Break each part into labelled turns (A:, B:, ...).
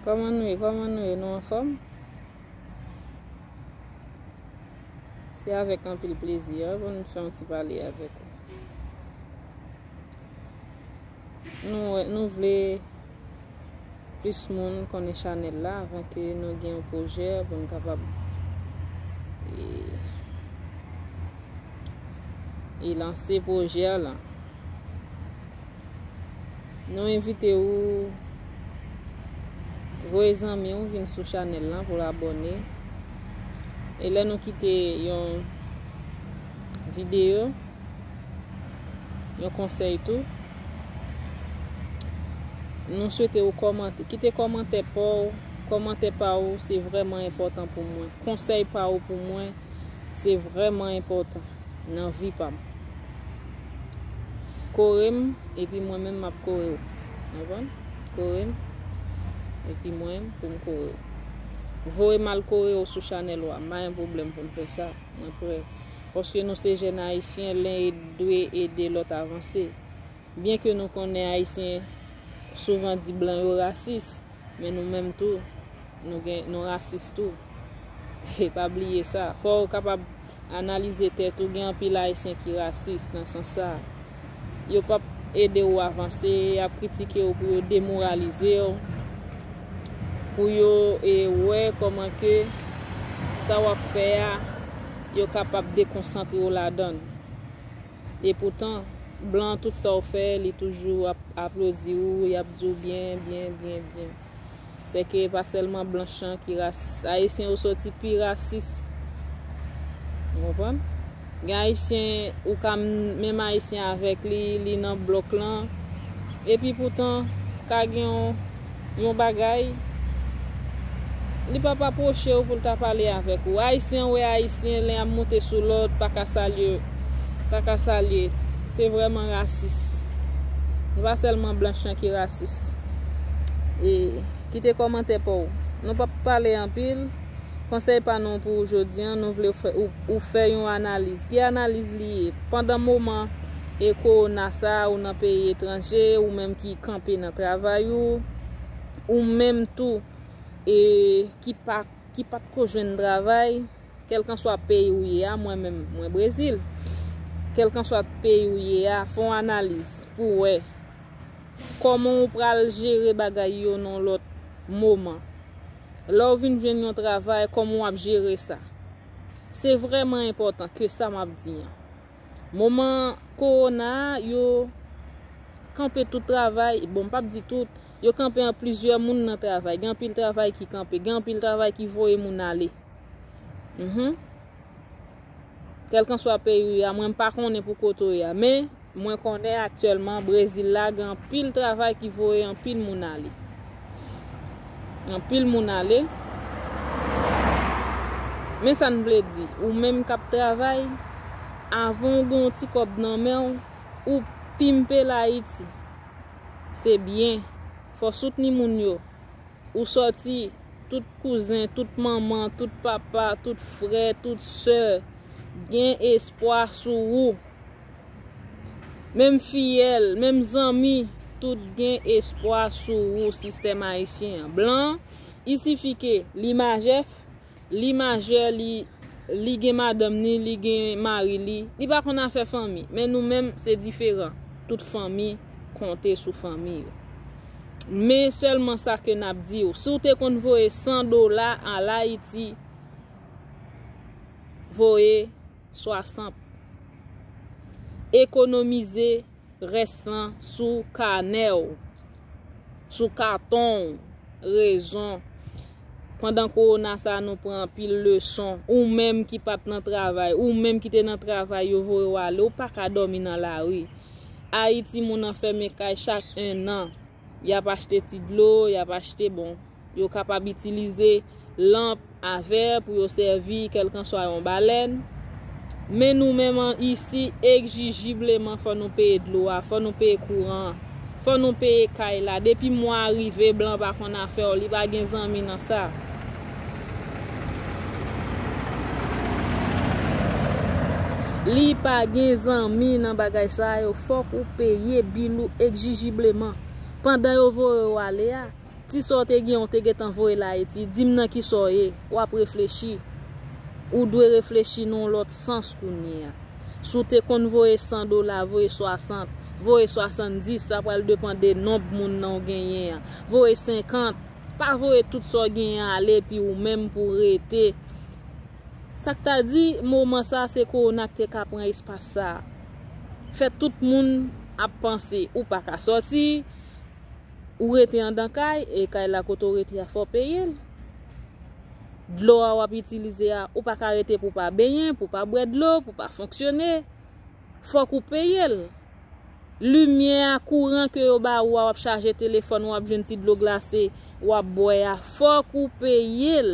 A: Koman nou ye koman nou ye nou anfòm Se avèk anpil plezi a pou nou fè yon ti pale avèk ou Nou vle plis moun konnen chanèl la avan ke nou gen yon pwojè pou nou kapab e lanse pwojè la. Nou envite ou voye zanmi ou vin sou chanèl la pou l'abone. E lè nou kite yon videyo, Yon konsèy tou. Nou swete ou kòmante. Kite kòmante pa ou. Kòmante pa ou se vreman enpotan pou mwen. Konsèy pa ou pou mwen se vreman enpotan nan vi pa mwen. Kore m, epi mwen men m ap kore ou. Anvan? Kore m, epi mwen m pou m kore ou. Voye m al kore ou sou chanel ou a. M pa gen problem pou m fè sa. Mwen pre. paske nou se jèn ayisyen len e dwe ede lòt avanse byen ke nou konnen ayisyen souvan di blan yo rasis men nou menm tou nou gen nou rasis tou e pa bliye sa fòw kapab analize tèt ou gen anpil ayisyen ki rasis nan sans sa. yo pap ede ou avanse, y ap kritike ou pou yo demoralize ou, pou yo e wè kòman ke sa w ap fè a yo kapab dekonsantre ou ladan l. E poutan, blan tout sa ou fè li toujou ap aplodi ou, y ap di ou byen, byen, byen, byen. Sèke e pa sèlman blanch an ki rasis. Ayisyen yo soti pi rasis. Ou konprann? Gen ayisyen ou ka menm ayisyen avèk li, li nan blòk lan. Epi poutan, ka gen yon bagay, li pa pa pwoche ou pou l ta pale avèk ou. Ayisyen wè ayisyen, len ap moute sou lòt, pa ka salye, pa ka salye. Se vrèman rasis. E pa sèlman blanch an ki rasis. likes e kite kòmantè paw nou pap pale anpil konsèy pa nou pou ou jodi an nou vle ou fè yon analiz ki analiz li ye pandan moman e kowona sa ou nan peyi etranje ou menm ki kanpe nan travay ou ou menm tou e ki pa ki pat ko jwenn travay kelkanswa peyi ou ye a mwen menm mwen brezil kelkanswa peyi ou ye a fon analiz pou wè. Kòman ou pral jere bagay yo nan lòt moman? Lè ou vin jwenn yon travay, kòman w ap jere sa? Se vrèman enpòtan ke sa m ap di an. Moman kowona a, yo kanpe tout travay, bon m p ap di tout, yo kanpe an plizyè moun nan travay. Gen anpil travay ki kanpe, gen anpil travay ki voye moun ale. Kèlkanswa peyi ou ye a, mwen m pa konnen pou kote ou ye a, men mwen konnen aktyèlman Brezil la gen anpil travay ki voye anpil moun ale. Anpil moun ale. Men sa n vle di, ou menm k ap travay, avan ou gen yon ti kòb nan men ou, ou pimpe l Ayiti. Se byen. Fò w soutni moun yo. Ou sòti, tout kouzen, tout manman, tout papa, tout frè, tout sè, gen espwa sou ou. Menm fiyèl, menm zanmi, tout gen espwa sou ou, sistèm ayisyen an. Blan, isifike, li majè. li majè li li gen madanm ni li gen mari li li pa konn afè fanmi men nou menm se diferan tout fanmi konte sou fanmi yo men sèlman sa ke nap di ou si ou te konn voye 100 dola al ayiti voye 60 ekonomize rès lan sou kanè w, sou katon w, rezon pandan kowona sa nou pran anpil leson, ou menm ki pat nan travay, ou menm ki te nan travay yo voye w ale, ou pa ka dòmi nan lari. Ayiti moun anfème kay chak 1 an, y ap achte ti dlo, y ap achte bon. Yo kapab itilize lanp a vè pou yo sèvi kèlkanswa yon balèn. Men nou menm an isi ekjijibleman fò nou peye dlo a, fò nou peye kouran an, fò nou peye kay la. Depi mwa a rive blan pa konn afè w, li pa gen zanmi nan sa. Li pa gen zanmi nan bagay sa yo, fòk ou peye bil ou ekjijibleman. Pandan yo voye w ale a. Ti sa w te gen an ou te gentan voye l Ayiti, di m nan ki sa w ye? W ap reflechi. Ou dwe reflechi nan yon lòt sans kounye a. Si w te konn voye 100 dola, voye 60, voye 70, sa pral depan de nonb moun nan ou genyen an. Voye 50, pa voye tout sa w genyen an ale epi ou menm pou w rete. Sa k ta di, moman sa a se kowona ki te ka pran espas sa a. Fè tout moun ap panse ou pa ka sòti. Ou rete andan kay e kay la kote w rete a fò w peye l. Dlo a w ap itilize a, ou pa ka rete pou w pa benyen, pou w pa bwè dlo, pou w pa fonksyone. Fòk ou peye l. Limyè a, kouran ke yo ba ou a, w ap chaje telefòn ou, w ap jwenn ti dlo glase, w ap bwè a, fòk ou peye l.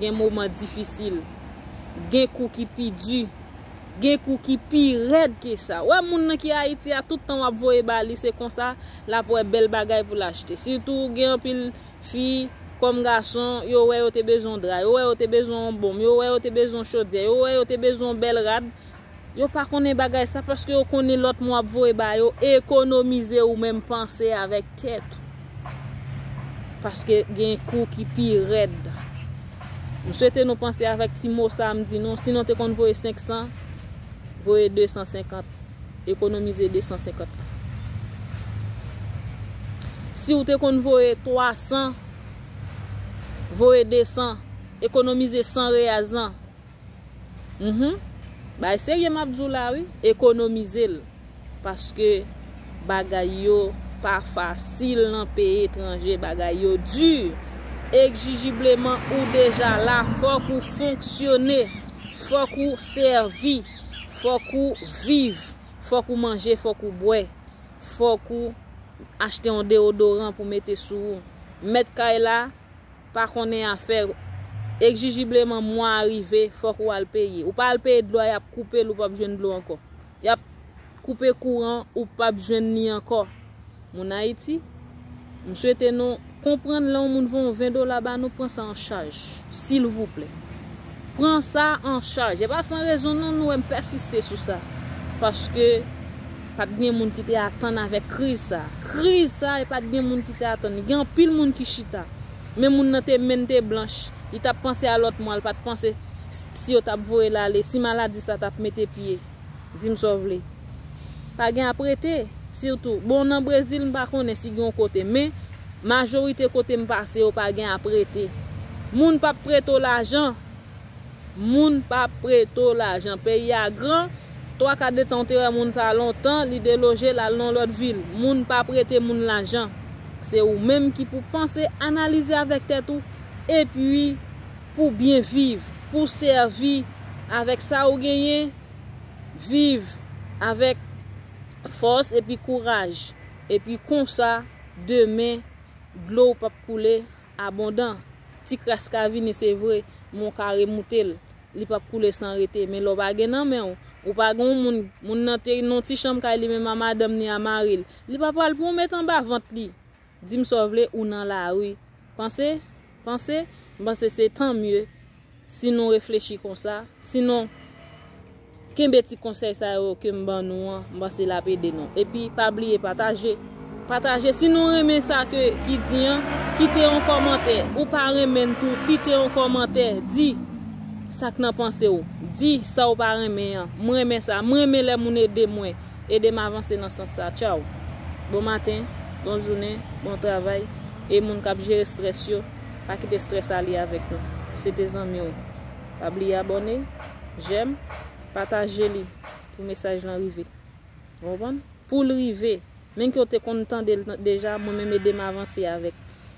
A: Gen moman difisil. Gen kou ki pi di. Gen kou ki pi rèd ke sa. Ou wè moun nan ki Ayiti a, tout tan w ap voye ba li, se konsa l ap wè bèl bagay pou l achte. Sitou gen anpil fi, kòm gason, yo wè yo te bezwen yon dra, yo wè yo te bezwen yon bonm, yo wè yo te bezwen yon chodyè, yo wè yo te bezwen yon bèl rad, Yo pa konnen bagay sa paske yo konnen lòt moun ap voye ba yo ekonomize ou menm panse avèk tèt ou paske gen kou ki pi rèd m swete nou panse avèk ti mo sa m di nou si nou te konn voye 500 voye 250 ekonomize 250 lan si ou te konn voye 300 voye 200 ekonomize 100 reyaz lan. Mph bay serye map di w la wi ekonomize l paske bagay yo pa fasil nan peyi etranje bagay yo di ekjijibleman ou deja la fok ou fonksyone fok ou sèvi fok ou viv fok ou manje fok ou bwè fok ou achte yon deodoran pou mete sou ou mèt kay la. pa konnen afè Ekjijibleman mwa a rive fòk ou al peye Ou pa al peye dlo a y ap koupe l ou p ap jwenn dlo ankò Y ap koupe kouran ou p ap jwenn ni ankò Moun Ayiti M swete nou konprann lè yon moun voye yon 20 dola ba nou pran sa an chaj silvouplè Pran sa an chaj E pa san rezon non nou wè m pèsiste sou sa paske. Pat gen moun ki te atann avèk kriz sa. Kriz sa e pat gen moun ki te atann li. Gen anpil moun ki chita. Men moun nan te menn te blanch. Li tap panse a lòt mwa, li pat panse si yo tap voye l ale, si maladi sa tap mete pye. Di m sa w vle. Pa gen ap rete. Sitou, bon nan Brezil m pa konnen si gen yon kote. Men, majorite kote m pase yo pa gen ap rete. Moun pap prete w lajan. moun pa prete w lajan. Peyi a gran, twa ka de tan ou te wè moun sa lontan, li deloje l al nan yon lòt vil. Moun pa prete moun lajan. Se ou menm ki pou panse, analize avèk tèt ou, epi pou byen viv, pou sèvi avèk sa ou genyen, viv avèk fòs epi kouraj. Epi konsa, demen, dlo w p ap koule. Abondan, Ti kras ka vini se vre, men w ka remoute l. Li pap koule san rete. Men lè w pa gen nan men w, ou pa gen yon moun, moun nan te nan yon ti chanm kay li menm a madanm ni a mari l, li pa pral pran w met anba vant li. Di m sa w vle, ou nan lari. Panse, panse, m panse se tanmye. si nou reflechi konsa, sinon kenbe ti konsèy sa yo ke m ban nou an, m panse l ap ede nou. Epi pa bliye pataje, pataje si nou renmen sa ke ki di an, kite yon kòmantè, ou pa renmen l tou, kite yon kòmantè, di sa k nan panse w, di sa w pa renmen an, m renmen sa, m renmen lè moun ede mwen, ede m avanse nan sans sa, tchaw. Bon maten, bon jounen, bon travay, e moun k ap jere strès yo. Pa kite stress ale avek nou. Se te zanmiw. Pa bliye abone, j'aime, pataje li pou mesaj lan rive. Ou konprann? Poul rive. Menm ke ou te konn tandel deja, mwen menm edem avanse avek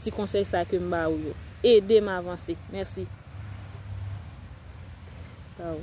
A: ti konsey sa kem ba ou yo. Edem avanse. Merci. T pa ou.